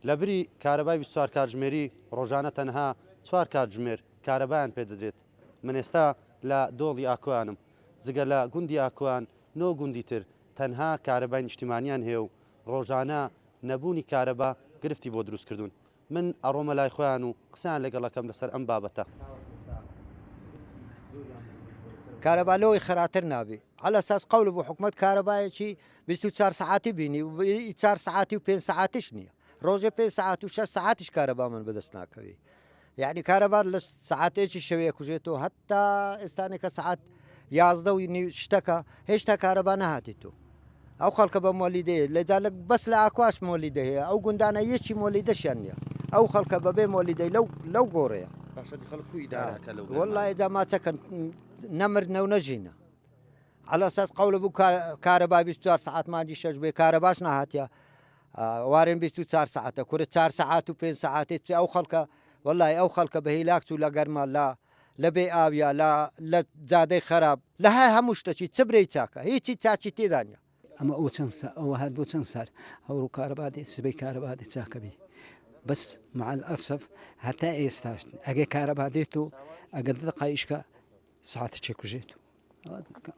لەبری کارەبای بیست و چوار کاتژمێری ڕۆژانە تەنها چوار کاتژمێر کارەبایان پێدەدرێت، من ئێستا لە دۆڵی ئاکۆیانم، جگە لە گوندی ئاکۆیان نۆ گوندی تر تەنها کارەبای نیشتیمانیان هەیە و ڕۆژانە نەبوونی کارەبا گرفتی بۆ دروستکردوون، من ئەڕۆمە لای خۆیان و قسەیان لەگەڵ ئەکەم لەسەر ئەم بابەتە. کارەبا لەوەی خەراتر نابێ. عەلەساس قەول بوو حکومەت کارەبایەکی بیست و چوار سەعاتی بینی و ئی چار سەعاتی و پێنج سەعاتیش نییە ڕۆژێ پێنج سەعات و شەش سەعاتیش کارەبامان بەدەست ناکەوی یعنی کارەبار لە سەعاتێکی شەوەیە کوژێت و هەتا ئێستانێکە سەعات یازدە و نی شتەکە هێشتا کارەبا نەهاتی تو ئەو خەڵکە بە مۆلیدەیە لەجا لە بەس لە ئاکواش مۆلیدە هەیە ئەو گوندانە یەکی مۆلیدەشیان نییە ئەو خەڵکە بەبێ مۆلیدەی لەو لەو گۆڕەیە باشە خەڵکو ئیدارەکە لەو وەڵی داماچەکەن نەمر نەو نەژینە عەلی ئەساس قەول بوو کار- کارەبا بیست و چوار سەعات مانگی شەش بێ کارەباش نەهاتیە ئا وارێن بیست و چوار سەعاتە کورە چار سەعات و پێنج سەعاتێ چ ئەو خەڵکە وەڵای ئەو خەڵکە بە هیلاک چوو لە گەرما لە لە بێ ئاویا لە لە جادەی خەراب لە هە هەموو شتەکی چ برێی چاکە هیچی چاکی تێدا نیە. ئەمە ئەو چەند سا ئەوە هەر بۆ چەند سار هەوڕ و کارەبا دێت سبەی کارەبا دێت چاکەبی بەس معال ئەسف هەتا ئێستاش ئەگەر کارەبا دێت و ئەگەر دقایشکە ساعتە چێکوژێت و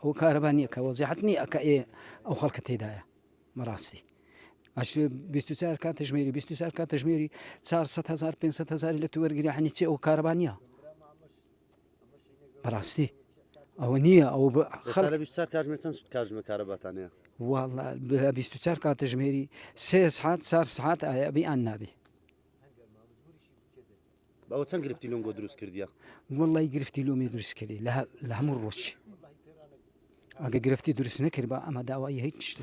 ئەو کارەبا نییە کە وەزیحت نییە کە ئێ ئەو خەڵکە تێدایە مەڕاستی ئەش 24 کات تژمێری 24 کات تژمێری 400 هزار 500 هزار لە تو وەرگری حنی چێ ئەو کارەبا نییە بەڕاستی ئەوە نییە ئەو کاتژمە کارەباتانەیە چار کاتژمێری سێ سعات چار سعات ئایبی ئان نابی بەەوە چەند گرفتی لۆنگۆ دروست کردیە وڵی گرفتی لۆمی دروست کردی لە هەموو ڕۆژ ئەگە گرفتی دروست نەکرد بە ئەمە داوای هیچ شتە.